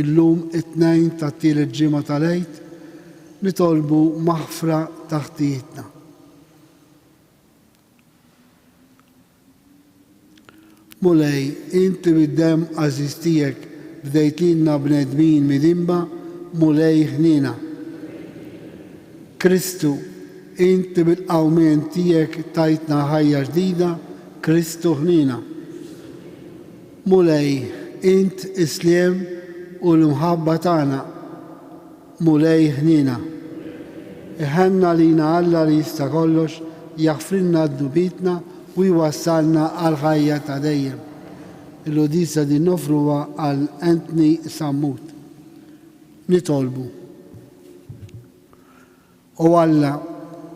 Illum, it-Tnejn tat-tielet ġimgħa tal-Għid, nitolbu maħfra ta' ħtijietna. Mulej, inti bid-demm għażiż tiegħek bdejt lilna bnedmin midinba, Mulej ħniena. Kristu, inti bil-qawmien tiegħek tajtna ħajja ġdida, Kristu ħniena. Mulej, int is-sliem u l-imħabba tagħna. Mulej, ħniena. Iħenn għalina Alla li jista' kollox jaħfrilna dnubietna u jwassalna għall-ħajja ta' dejjem. Il-Quddiesa din noffruha għal Anthony Sammut. Nitolbu. O Alla,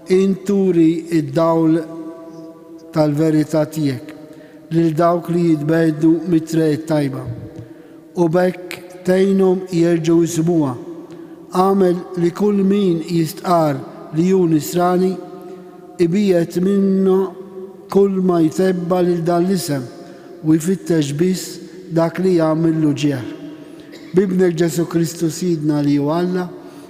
int turi d-dawl tal-verità tiegħek lil dawk li jitbegħdu mit-triq it-tajba, u b'hekk tgħinhom jerġgħu jsibuha. Agħmel li kull min jistqarr li hu Nisrani ibiegħed minnu kulma jtebba lil dan l-isem u jfittex biss dak li jagħmillu ġieħ. B'Ibnek Ġesù Kristu Sidna li hu Alla,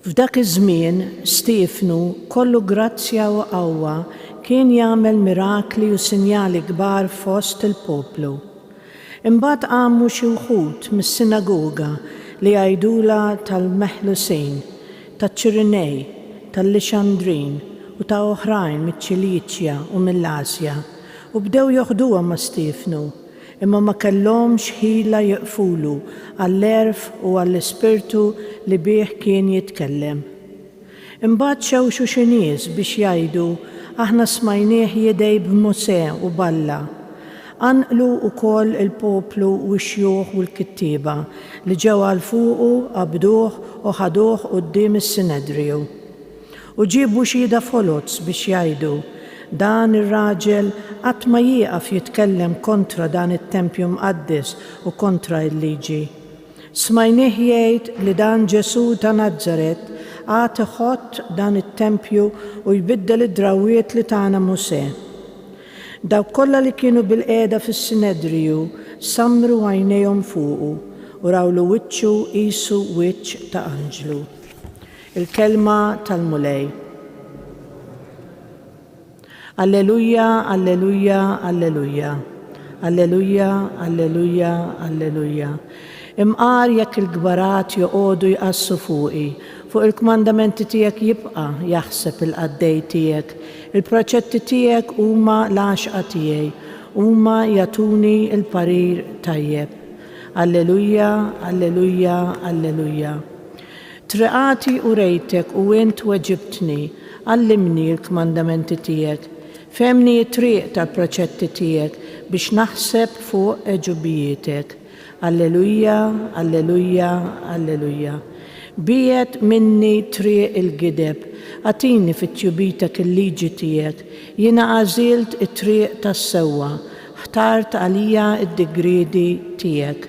F'dak iż-żmien, Stiefnu, kollu grazzja u qawwa, kien jagħmel mirakli u sinjali kbar fost il-poplu. Imbagħad qamu xi wħud mis-sinagoga li għajdulha tal-Meħlusin, taċ-Ċirinej, tal-Lixandrin u ta' oħrajn miċ-Ċiliċja u mill-Asja, u bdew joħduhom ma' Stiefnu. Imma ma kellhomx ħila jieqfulu għall-għerf u għall-ispirtu li bih kien jitkellem. Imbagħad xewxu xi nies biex jgħidu, Aħna smajnieh jidgħi b'Mosè u b'Alla. Qanqlu wkoll il-poplu u x-xjuħ u l-kittieba, li ġew għal fuqu, qabduh u ħaduh quddiem is-Sinedriju. U ġiebu xhieda foloz biex jgħidu, Dan ir-raġel qatt ma jieqaf jitkellem kontra dan it-tempju mqaddes u kontra l-liġi. Smajnieh jgħid li dan Ġesù ta' Nazaret għad iħott dan it-tempju u jbiddel id-drawwiet li tana Mosè. Dawk kollha li kienu bilqiegħda fis-Sinedriju sammru għajnejhom fuqu u rawlu wiċċu qisu wiċċ ta' anġlu. Il-Kelma tal-Mulej. Alleluja, alleluja, alleluja. Alleluja, alleluja, alleluja. Imqar jekk il-kbarat joqogħdu jqassu fuqi, fuq il-kmandamenti tiegħek jibqa' jaħseb il-qaddej tiegħek. Il-proċetti tiegħek huma l-għaxqa tiegħi, huma jagħtuni l-parir tajjeb. Alleluja, alleluja, alleluja. Triqati u rejtek u int weġibtni, għallimni l-kmandamenti tiegħek, fehmni t-triq tal-preċetti tiegħek biex naħseb fuq għeġubijietek. Alleluja, alleluja, alleluja. Biegħed minni triq il-gideb, agħtini fit-tjubitek il-liġi tiegħek, jiena għażilt it-triq tas-sewwa, ħtart għalija d-digriedi tiegħek.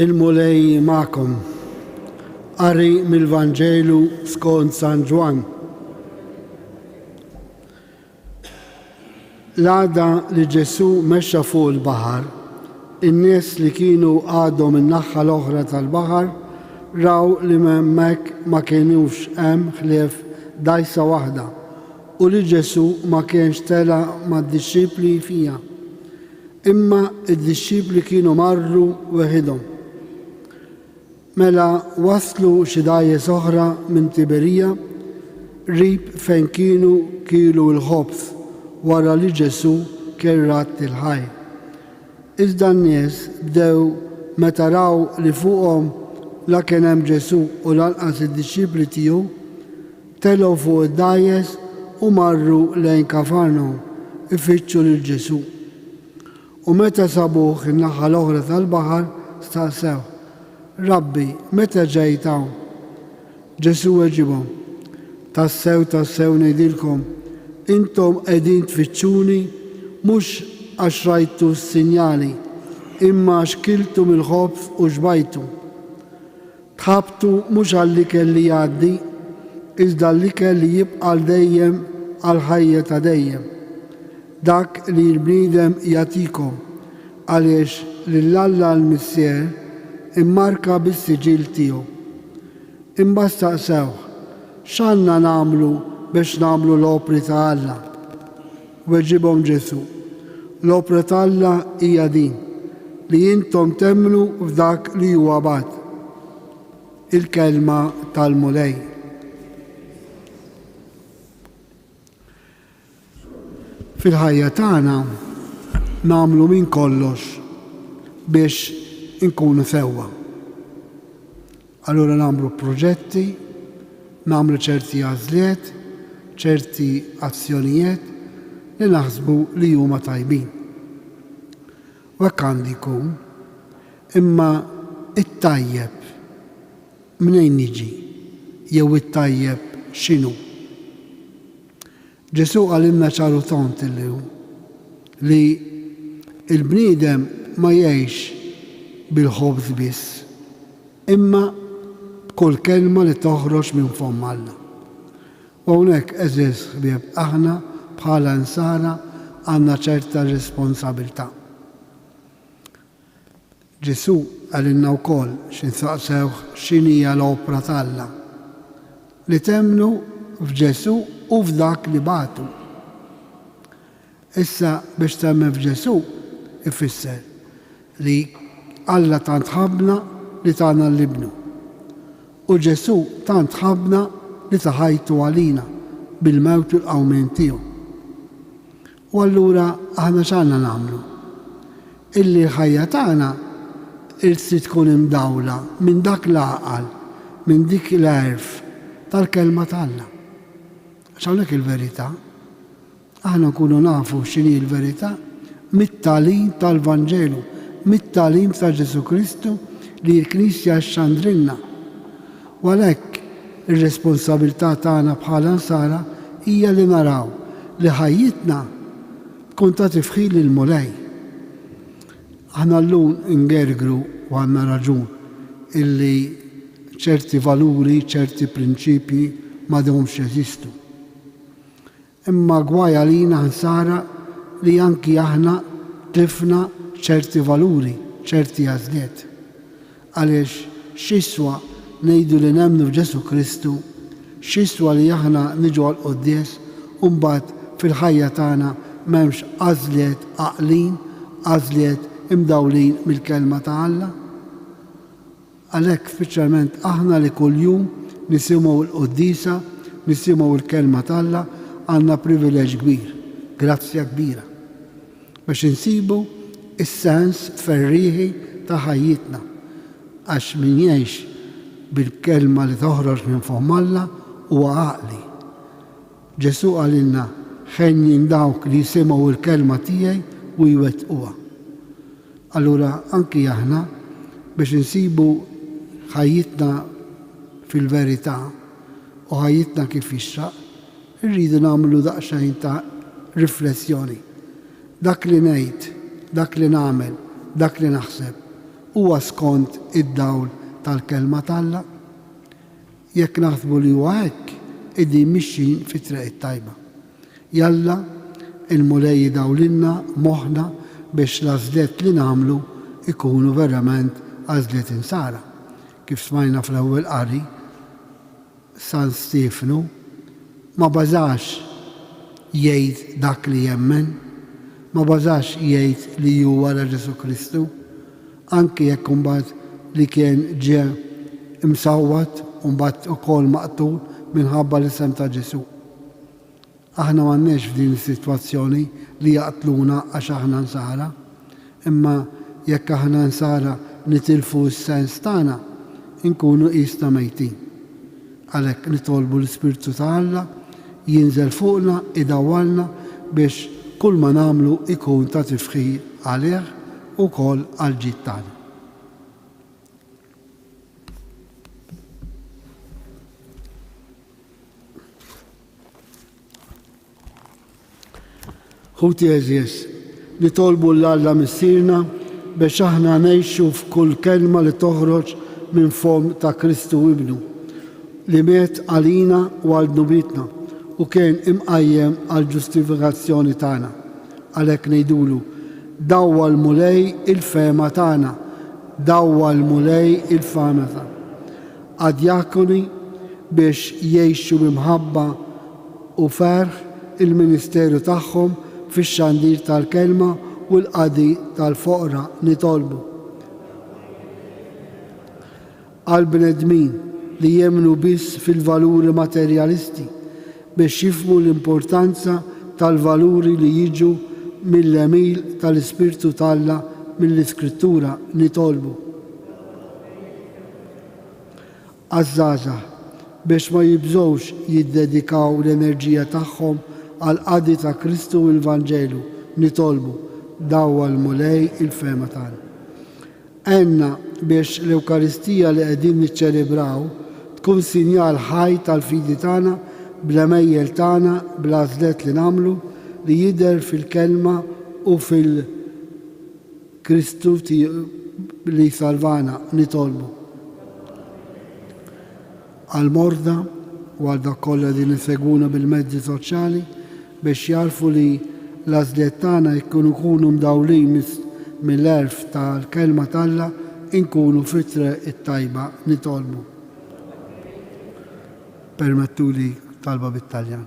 Il-Mulej magħkom. Qari mill-Vanġelu skont San Ġwan. L-għada li Ġesu mexxa fuq il-baħar, in-nies li kienu għadhom in-naħħa l-oħra tal-baħar raw li m'hemmhekk ma kienux hemm ħlief dajsa waħda u li Ġesù ma kienx tela' mad-dixxipli fiha, imma d-dixxipli kienu marru weħidhom. Mela waslu xi dgħajjes oħra minn Tiberija, qrib fejn kienu kielu l-ħobż wara li Ġesù kien radd il-ħajr. Iżda n-nies bdew meta raw li fuqhom la kien hemm Ġesù u lanqas id-dixxipli tiegħu, telgħu fuq id-dgħajjes u marru lejn Kafarnawm ifittxu lil Ġesù. U meta sabuh in-naħa l-oħra tal-baħar, staqsewh, Rabbi, meta ġejt hawn? Ġesù weġibhom, Tassew, tassew ngħidilkom, intom qegħdin tfittxuni mhux għax rajtu s-sinjali, imma għax kiltu mill-ħobż u xbajtu. Tħabbtu mhux għall-ikel li jgħaddi, iżda għall-ikel li jibqa' għal dejjem għall-ħajja ta' dejjem, dak li l-bniedem jagħtikom, għaliex lil Alla l-Missier immarka bis-siġill tiegħu. Imbagħad staqsewh, X'għandna nagħmlu biex nagħmlu l-opri ta' Alla? Weġibhom Ġesù, L-opra t'Alla hija din, li intom temmnu f'dak li huwa bagħat. Il-Kelma tal-Mulej. Fil-ħajja tagħna nagħmlu minn kollox biex inkunu sewwa. Allura nagħmlu proġetti, nagħmlu ċerti għażliet, ċerti azzjonijiet li naħsbu li huma tajbin. U hekk għandu jkun. Imma t-tajjeb mnejn jiġi jew it-tajjeb x'inhu? Ġesù qalilna ċar u tond illum li l-bniedem ma jgħixx bil-ħobż biss, imma b'kull kelma li toħroġ minn fomm Alla. U hawnhekk, għeżież ħbieb, aħna bħala Nsara għandna ċerta responsabilità. Ġesù qalilna wkoll xi nsaqsewh x'inhija l-opra t'Alla, li temmnu f'Ġesù u f'Dak li bagħtu. Issa biex temmen f'Ġesù ifisser li Alla tant ħabbna li tana l-Ibnu. U Ġesù tant ħabbna li ta ħajtu għalina bil-mewt u l-qawmien tiegħu. U allura aħna x'għandna nagħmlu? Illi l-ħajja tagħna irtsi tkun imdawla minn dak l-għaqal, minn dik l-għerf tal-Kelma t'Alla. Għax hawnhekk il-verità. Aħna nkunu nafu x'inhi l-verità mit-tagħlim tal-Vanġelu, mit-tagħlim ta' Ġesù Kristu li l-Knisja xxandrilna. U għalhekk, ir-responsabilità tagħna bħala Nsara hija li naraw li ħajjitna tkun ta' tifħir lill-Mulej. Aħna llum ingergru, u għandna raġun, illi ċerti valuri, ċerti prinċipji m'għadhomx jeżistu. Imma gwaj għalina ħsara li anki aħna tlifna ċerti valuri, ċerti għażliet. Għaliex x'jiswa ngħidu li nemmnu f'Ġesù Kristu, x'jiswa li aħna niġu għall-quddies u mbagħad fil-ħajja tagħna m'hemmx għażliet għaqlin, għażliet imdawlin mill-Kelma ta' Alla? Għalhekk speċjalment aħna li kuljum nisimgħu l-quddiesa, nisimgħu l-Kelma t'Alla, għandna privileġġ kbir, grazzja kbira, biex insibu s-sens ferrieħi ta' ħajjitna, għax min jgħix bil-kelma li toħroġ minn fomm Alla huwa għaqli. Ġesù qalilna, Ħenjin dawk li jsimgħu l-kelma tiegħi u jwettquha. Allura anki aħna biex insibu ħajjitna fil-verità u ħajjitna kif jixraq, irridu nagħmlu daqsxejn ta' riflessjoni. Dak li ngħid, dak li nagħmel, dak li naħseb, huwa skont id-dawl tal-Kelma t'Alla? Jekk naħsbu li huwa hekk, qegħdin mixjin fit-triq it-tajba. Jalla, il-Mulej jdawlilna moħħna biex l-għażliet li nagħmlu jkunu verament għażliet insara. Kif smajna fl-ewwel qari, San Stiefnu ma bażax jgħid dak li jemmen, ma bażax jgħid li hu wara Ġesù Kristu, anki jekk imbagħad li kien ġie msawwat u mbagħad ukoll maqtul minħabba l-isem ta' Ġesù. Aħna m'għandniex f'din is-sitwazzjoni li jaqtluna għax aħna Nsara. Imma jekk aħna Nsara nitilfu s-sens tagħna, inkunu qisna mejtin. Għalhekk nitolbu l-Ispirtu ta' Alla jinżel fuqna idawwalna biex kulma nagħmlu jkun ta' tifħir għalih u wkoll għall-ġid tagħna. Ħuti eżjes, nitolbu l Alla Missierna biex aħna ngħixu f'kull kelma li toħroġ minn fomm ta' Kristu Ibnu, li miet għalina u għal dnubietna u kien imqajjem għall-ġustifikazzjoni tagħna. Għalhekk ngħidulu, Dawwal Mulej il-fehma tagħna, dawwal Mulej il-fehma tagħna. għad-djakoni biex jgħixu bi mħabba u ferħ il-ministeru tagħhom fix-xandir tal-Kelma u l-qadi tal-foqra. Nitolbu għall-bnedmin li jemmnu biss fil-valuri materjalisti biex jifhmu l-importanza tal-valuri li jiġu mill-għemil tal-Ispirtu t'Alla mill-Iskrittura. Nitolbu. għaż-żgħażagħ biex ma jibżgħux jiddedikaw l-enerġija tagħhom għall-qadi ta' Kristu u l-Vanġelu, nitolbu, dawwa l-Mulej il-fehma tagħna. Għenna biex l-Ewkaristija li qegħdin niċċelebraw tkun sinjal ħaj tal-fidi tagħna bl-għemejjel tagħna, bl-għażlet li nagħmlu, li jidher fil-kelma u fil. Kristu li jsalvana nitolbu. Għall-morda u għal dak kollha li nisegwuna bil-mezzi soċjali biex jagħrfu li l-għażliet tagħna jekk ikunu mdawlin mill-għerf tal-Kelma t'Alla nkunu fit-triq it-tajba nitolbu. Permettuli talba bit-Taljan.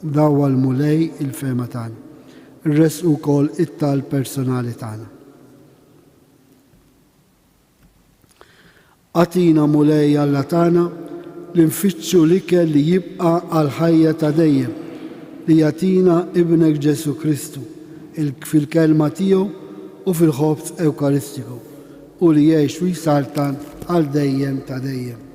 Dawwa l-Mulej il-fehma tagħna. Irressqu wkoll it-talb personali tagħna. Agħtina, Mulej Alla tagħna, li nfittxu l-ikel li jibqa' għal ħajja ta' dejjem li jagħtina Ibnek Ġesu Kristu fil-kelma tiegħu u fil-ħobż Ewkaristiku u li jgħix u jsaltan għal dejjem ta' dejjem.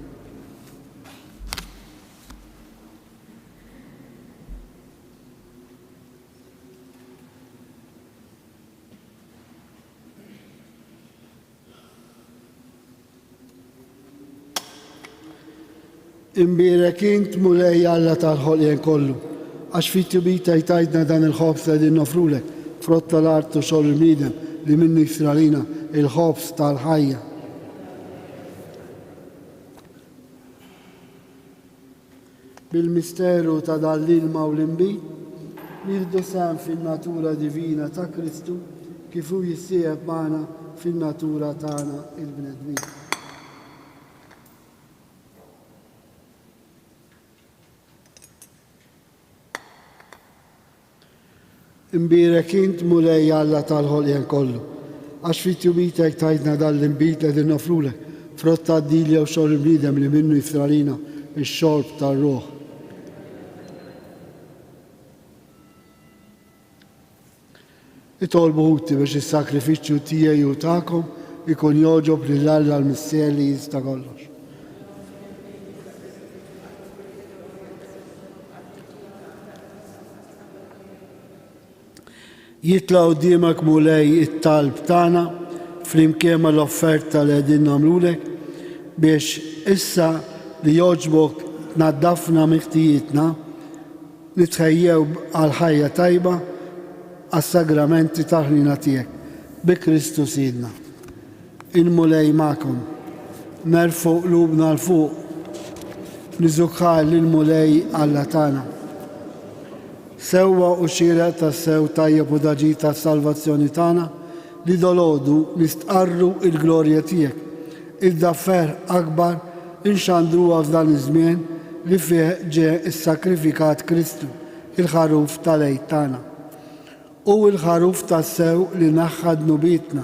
Imbirek int mulej Alla tal-ħolqien kollu, għax fit tibita jtajdna dan il-ħobs li din nofrulek, frott tal-art u xogħol il-bniedem li minnu jisralina il-ħobs tal-ħajja. bil-misteru ta' dan l-ilma u l-inbid, nieħdu sehem fin-natura divina ta' Kristu kif hu jissieħeb magħna fin-natura tagħna l-bnedmin. Imbierek int, Mulej Alla tal-ħolqien kollu, għax fit-tjubitek tajtna dan l-inbid li qegħdin noffrulek, frott tad-dil jew xogħol il-bniedem li minnu jiftra għalina x-xorb tar-ruħ. Itolbu Ħuti biex is-sagrifiċċju tiegħi u tagħkom ikun jogħġob lil Alla l-Missier li jista' kollox. Jitla' quddiemek Mulej it-talb tagħna flimkien mal-offerta li qegħdin nagħmlulek biex issa li jogħġbok tnaddafna miħtijitna li tħejjew għal ħajja tajba għas-sagramenti tal-ħniena tiegħek, bi Kristu Sidna. Il-Mulej magħkom. Nerfgħu qlubna 'l fuq, niżukar lill-Mulej Alla tagħna. Sewwa u xieraq tassew tajjeb u daġi tas-salvazzjoni tagħna, li dolodu nistqarru il-glorja tiegħek, iżda ferħ akbar inxandruha f'dan iż-żmien li fih ġie ssakrifikat Kristu, il-Ħaruf tal-Għid tagħna. Hu l-Ħaruf tassew li neħħa dnubietna.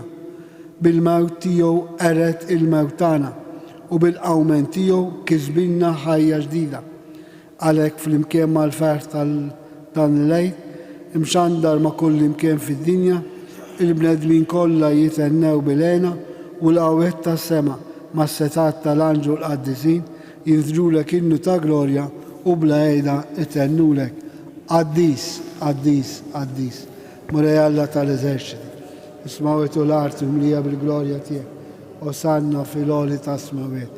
Bil-mewt tiegħu qered il-mewt tagħna, u bil-qawmen tiegħu kisbilna ħajja ġdida. Għalhekk, flimkien mal-ferħ ta' dan il-Għid, imxandar ma' kullimkien fid-dinja, il-bnedmin kollha jithennew bil-hena u l-qawwiet tas-sema mas-setgħat tal-anġlu l-qaddisin jinżlulek innu ta' glorja u bla għeda jthennulek, Qaddis, qaddis, qaddis, Mulej Alla tal-eżerċiti, is-smawwiet u l-arti mlija bil-glorja tiegħek, Osanna fil-għoli tas-smawwiet,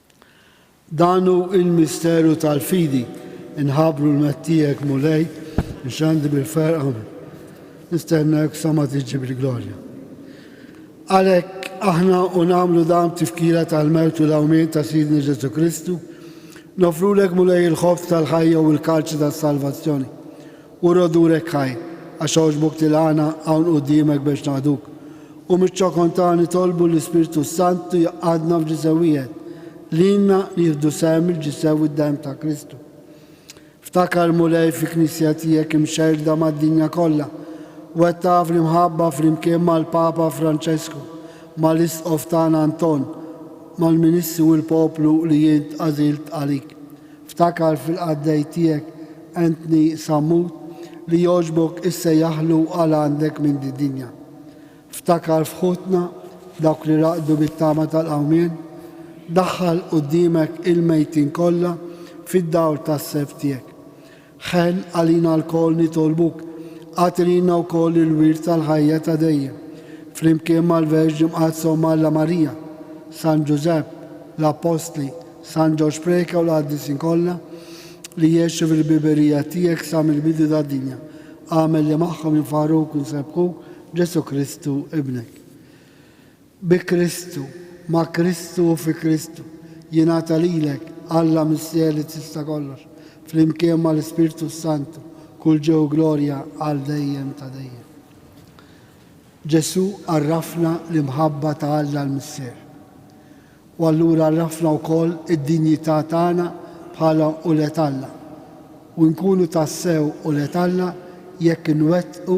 Dan hu l-misteru tal-fidi, inħabbru l-mett tiegħek, Mulej, nxandi bil-ferqa, nistennek sa ma tiġi bil-glorja. Għalhekk aħna u nagħmlu dan tifkira tal-mewt u l-awmien ta' Sidna Ġesu Kristu, nofrulek Mulej il-ħobż tal-ħajja u l-kalċi tas-salvazzjoni U rodurek ħaj, għax għoġbok tilgħana hawn quddiemek biex naqduk. U miċ-ċokon tagħha nitolbu l-Ispirtu s-Santu jgħaqqadna f'ġisem wieħed, lilna li jieħdu sehem il-ġisem u d-demm ta' Kristu. Ftakar, Mulej, fil-Knisja tiegħek imxerrda mad-dinja kollha, wettaqha fl-imħabba flimkien mal-Papa Franċesku, mal-Isqof tagħna Anton, mal-Ministru u l-poplu li int għażilt għalik. Ftakar fil-qaddej tiegħek Anthony Sammut li jogħġbok issejjaħlu għal għandek minn did-dinja. Ftakar f'ħutna, dawk li raqdu bit-tama tal-qawmien. Daħħal quddiemek il-mejtin kollha fid-dawl tas-self tiegħek. Ħenn għalina lkoll nitolbuk, agħtilna wkoll il-wirt tal-ħajja ta' dejjem, flimkien mal-Verġni Mqaddsa Omm Alla Marija, San Ġużepp, l-Appostli, San Ġorġ Preca u l-Qaddisin kollha li jgħexu fil-ħbiberija tiegħek sa mill-bidu tad-dinja. Agħmel li magħhom jinfaħruk u jsebbħuk Ġesù Kristu Ibnek. Bi Kristu, ma' Kristu u fi Kristu, jingħata lilek, Alla Missier li tista' kollox, flimkien mal-Ispirtu s-Santu, kull ġieħ u glorja għal dejjem ta' dejjem. Ġesù għarrafna l-imħabba ta' Alla l-Missier. U allura għarrafna wkoll id-dinjità tagħna bħala ulied Alla. U nkunu tassew ulied Alla jekk inwettqu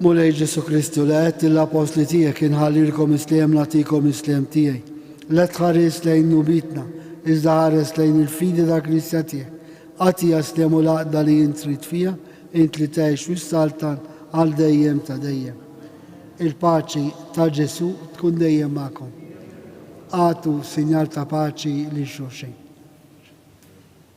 Mulej Ġesu Kristu li għedt l-apostli tiegħek inħallilkom isliem nagħtikom isliem tiegħi. La tħares lejn nubitna, iżda ħares lejn il-fidi ta' Kristja tiegħek. Għatija sliem u laqda li int trid fiha, int li tgħix u saltan għal dejjem ta' dejjem. Il-paċi ta' Ġesu tkun dejjem magħkom. Għatu sinjal ta' paċi li xulxin.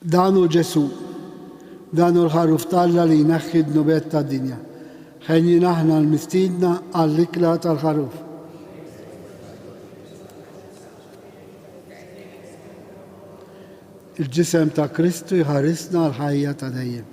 Dan hu Ġesù. Dan hu l-Ħarruf t'Alla li jneħħi d-dnubiet tad-dinja. Henjin aħna l-mistiedna għall-ikla tal-Ħarruf. Il-ġisem ta' Kristu jħarisna għall-ħajja ta' dejjem.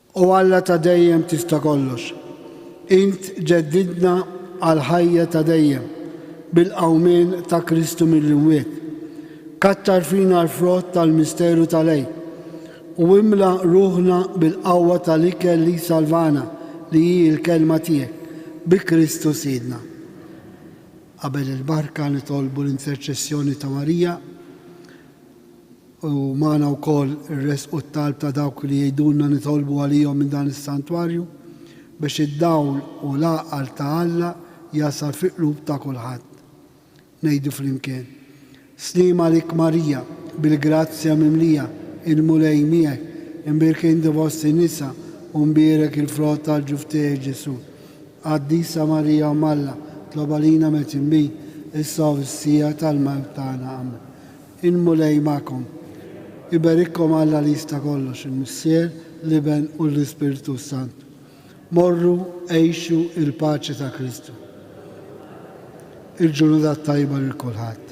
O Alla ta' dejjem tista' kollox, int ġeddidtna għall-ħajja ta' dejjem bil-qawmien ta' Kristu mill-imwiet. Kattar fina l-frott tal-misteru tal-Għid, u imla ruħna bil-qawwa tal-ikel li jsalvana, li hi l-Kelma tiegħek, bi Kristu Sidna. Qabel il-barka nitolbu l-interċessjoni ta' Marija. u magħna wkoll irressqu t-talb ta' dawk li jgħidulna nitolbu għalihom minn dan is-santwarju, biex id-dawl u l-għaqal ta' Alla jasal fi qlub ta' kulħadd. Ngħidu flimkien, Sliem għalik Marija, bil-grazzja mimlija, il-Mulej miegħek, imbierka inti fost in-nisa u mbierek il-frott tal-ġuf tiegħek Ġesù. Qaddisa Marija Omm Alla, tlob għalina metin bih, issa u fis-siegħa tal-mewt tagħna. Amen. Il-Mulej magħkom. Iberikkom Alla li jista' kollox, il-Missier, l-Iben u l-Ispirtu s-Santu. Morru, għixu il-paċi ta' Kristu. Il-ġurnata t-tajba lil kulħadd.